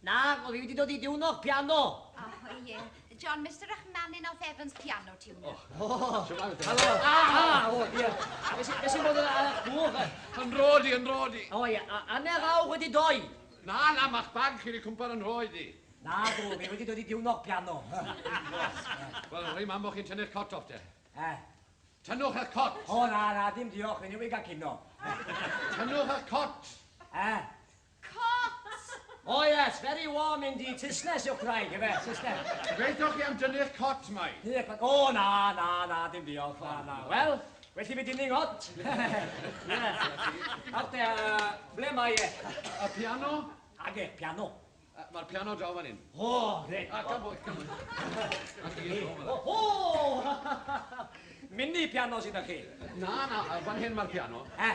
Na, o fi wedi dod i diwno'r piano. O, ie. John, Mister Rachmanin of Evans Piano Tuner. O, helo. A, a, o, ie. Fe sy'n bod yn eich bwf? Yn rodi, yn rodi. O, ie. Am e'r awr wedi doi. Na, na, mae'ch bag chi wedi cwmpa'r yn rhoi di. Na, dw, fi wedi dod i diwno'r piano. Wel, rhaid mam bod chi'n tynnu'r cot off, de. E? Tynnwch eich cot. O, na, na, dim diolch, fi newydd gael cino. Tynnwch eich cot. E? Cot! O yes, very warm indeed. Saesnes yw'ch gwraig, efe? Saesnes. Gobeithio chi am dynnu'ch cot, mai. O, na, na, na, dim diolch, na, na. Wel, well i fi dynnu ngot. Nawr te, ble mae e? Y piano? Age, piano. Mae'r piano draw fan hyn. O, reit. A, gan bwy, gan bwy. O, o! Mini piano sydd â chi? Na, na, fan hyn mae'r piano. Eh?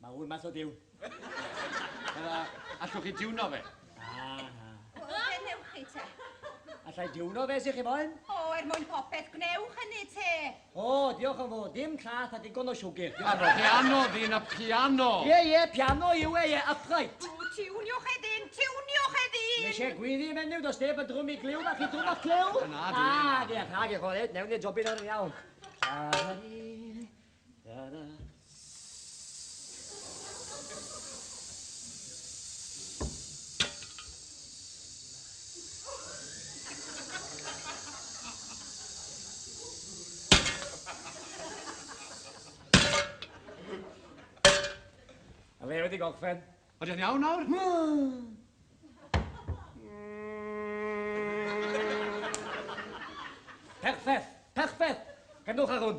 Mae hwn math o diwn. Fel a, allwch chi diwno fe? Na, na. Wel, fe newch chi te. Allai diwno fe si chi moyn? O, er mwyn popeth, gwnewch hynny te. O, diolch yn fawr, dim clath a digon o siwgr. Diolch. Ar y piano, ddyn, y piano. Ie, ie, piano yw e, ie, upright. O, tiwniwch e ddyn, tiwniwch e ddyn. Nes e gwyddi menyw, dos neb yn drwm i glyw, a chi drwm o'ch clyw? Na, dwi. Ah, diolch, ha, diolch, o, reit, newn ni jobyn ar iawn. Lari, Ychydig ogfen. Ydy o'n iawn nawr? Perffaith, perffaith. Gandwch ar hwn.